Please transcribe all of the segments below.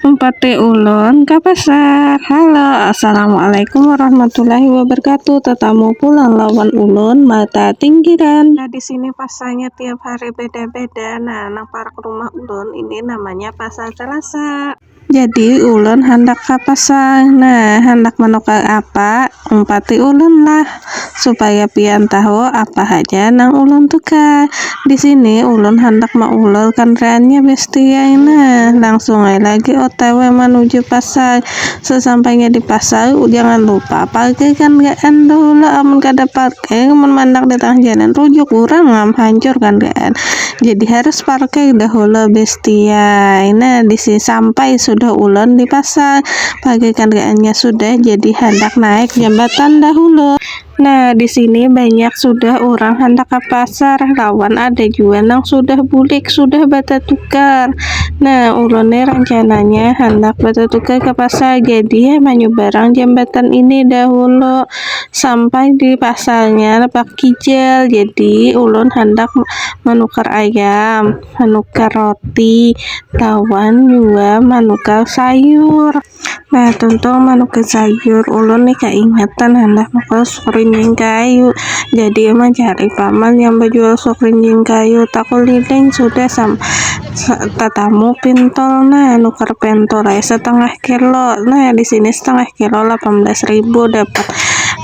Empati ulun ke pasar. Halo, Assalamualaikum warahmatullahi wabarakatuh. Tetamu pulang lawan ulun mata tinggiran. Nah, di sini pasarnya tiap hari beda-beda. Nah, nang parak rumah ulun ini namanya Pasar Selasa. Jadi, ulun handak ke pasar. Nah, handak menukar apa? Empati ulun lah. Supaya pian tahu apa haja nang ulun tukar. Di sini ulun handak maulur kandaranya bestia ai nah. Langsung ai lagi otw manuju pasar. Sesampainya di pasar jangan lupa parkir kandaraan dahulu amun kada parkir mun mandak di tangah jalan rujuk urang am hancur kandaraan. Jadi harus parkir dahulu bestia ai nah. Di sini sampai sudah ulun di pasar. pakai kendaraannya sudah jadi hendak naik jembatan dahulu Nah, di sini banyak sudah orang hendak ke pasar, lawan ada juga nang sudah bulik, sudah batatukar. Nah, ulun nih rencananya hendak batatukar ke pasar, jadi menyubarang jembatan ini dahulu sampai di pasarnya lepak kijel. Jadi ulun hendak menukar ayam. manukar roti lawan jua manukar sayur nah tuntung manukar sayur ulun nih kaingatan handak nukar sup rinjing kayu jadi mencari paman yang bejual sup rinjing kayu takuliling sudah sam tatamu pintol nah nukar pentol ai setengah kilo nah di sini setengah kilo delapan belas ribu dapat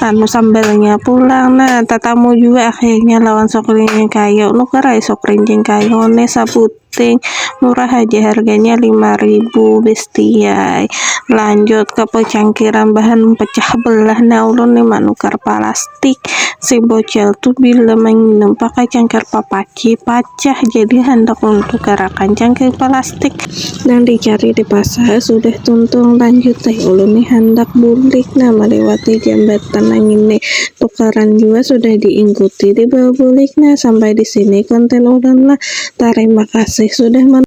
anu sambalnya pulang nah tatamu jua akhirnya lawan sop rincing kayu nukar ai sop rincing kayu ni sabuting murah haja harganya lima ribu bestiai lanjut ke pecangkiran bahan pecah belah nah ulun ni manukar palastik si bocel tu bila manginum pakai cangkir papac. Ki pacah jadi handak ulun tukarakan cangkir palastik nang dicari di pasar sudah tuntung lanjut ai ulun ni handak bulik nah maliwati jambatan nang ini tukaran jua sudah di ingkuti dibawa bulik nah sampai di sini konten ulun lah tarima kasih sudah menonton.